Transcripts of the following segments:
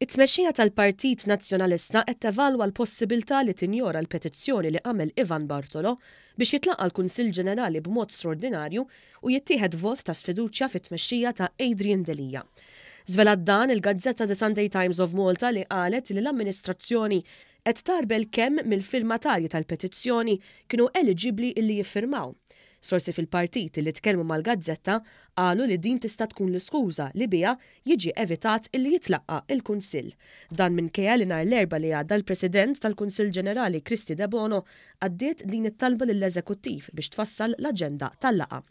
It-tmexxija tal-Partit Nazzjonalista qed tevalwa l-possibiltà li tinjora l-petizzjoni li għamel Ivan Bartolo biex jitlaqa' l-Kunsill Ġenerali b'mod straordinarju u jittieħed vot ta' sfiduċja fit-tmexxija ta' Adrian Delia. Żvelat dan il-gazzetta The Sunday Times of Malta li qalet li l-amministrazzjoni Qed tagħrbel kemm mill-firmatarji tal-petizzjoni kienu eliġibbli illi jiffirmaw. Sorsi fil-partit illi tkellmu mal-gazzetta qalu li din tista' tkun l-iskuża li biha jiġi evitat illi jitlaqqa' il-Kunsill. Dan minkejja li nhar l-Erbgħa li għadda l-President tal-Kunsill Ġenerali Kristy Debono għaddiet din it-talba lill-Eżekuttiv biex tfassal l-aġenda tal-laqgħa.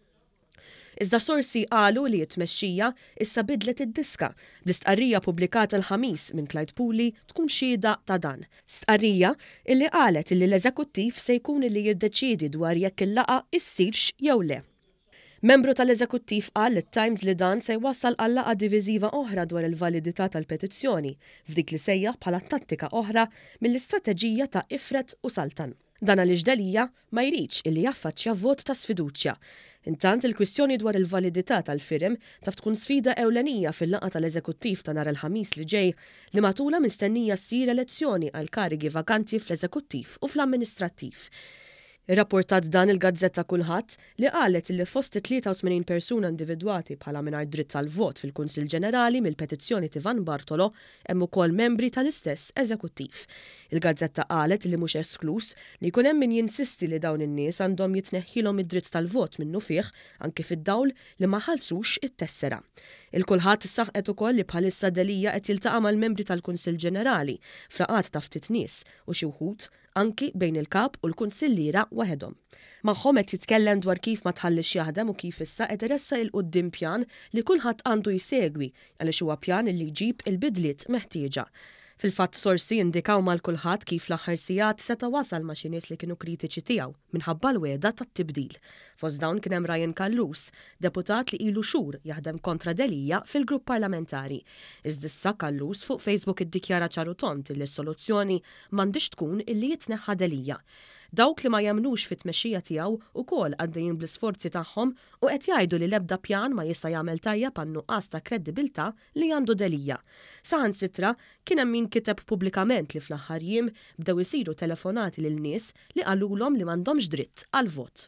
Iżda sorsi qalu li t-tmexxija issa bidlet id-diska, bl-istqarrija ppubblikata l-Ħamis minn Clyde Puli tkun xhieda ta' dan. Stqarrija illi qalet illi l-Eżekuttiv se jkun illi jiddeċiedi dwar jekk il-laqgħa issirx jew le. Membru tal-Eżekuttiv qal lit-Times li dan se jwassal għal laqgħa diviżiva oħra dwar il-validità tal-petizzjoni, f'dik li sejjaħ bħala tattika oħra mill-istrateġija ta' ifred u saltan. Dan għaliex Delia ma jridx illi jaffaċċja vot ta' sfiduċja. Intant, il-kwistjoni dwar il-validità tal-firem taf tkun sfida ewlenija fil-laqgħa tal-Eżekuttiv ta' nhar il-Ħamis li ġej li matulha mistennija ssir elezzjoni għall-karigi vakanti fl-Eżekuttiv u fl-Amministrattiv. Irrapportat dan il-gazzetta Kulħadd, li qalet illi fost it-83 persuna individwati bħala mingħajr dritt tal-vot fil-Kunsill Ġenerali mill-petizzjoni t'Ivan Bartolo, Hemm ukoll membri tal-istess eżekuttiv. Il-gazzetta qalet li mhux eskluż li jkun hemm min jinsisti li dawn in-nies għandhom jitneħħilhom id-dritt tal-vot minnufih anki fid-dawl li ma ħallsux it-tessera. Il-Kulħadd saħqet ukoll li bħalissa Delia qed jiltaqa' mal-membri tal-Kunsill Ġenerali f'laqgħat ta' ftit nies u xi wħud anki bejn il-Kap u l-Kunsilliera waħedhom. Magħhom qed jitkellem dwar kif ma tħalliex jaħdem u kif issa qed iressaq 'il quddiem pjan li kulħadd għandu jsegwi għaliex huwa pjan li jġib il-bidliet meħtieġa. Fil-fatt sorsi indikaw mal kulħadd kif l-aħħar sigħat seta' wasal ma' xi nies li kienu kritiċi tiegħu minħabba l-wegħda tat-tibdil. Fost dawn kien hemm Ryan Callus, Deputat li ilu xhur jaħdem kontra Delia fil-Grupp Parlamentari. Iżd issa Callus fuq Facebook iddikjara ċar u tond li s-soluzzjoni m'għandhiex tkun illi jitneħħa Delia. Dawk li ma jemmnux fit-tmexxija tiegħu ukoll għaddejjin bl-isforzi tagħhom u qed jgħidu li l-ebda pjan ma jista' jagħmel tajjeb għan-nuqqas ta' kreddibilità li għandu Delia. Saħansitra kien hemm min kiteb pubblikament li fl-aħħar jiem bdew isiru telefonati lil nies li qalulhom li m'għandhomx dritt għall-vot.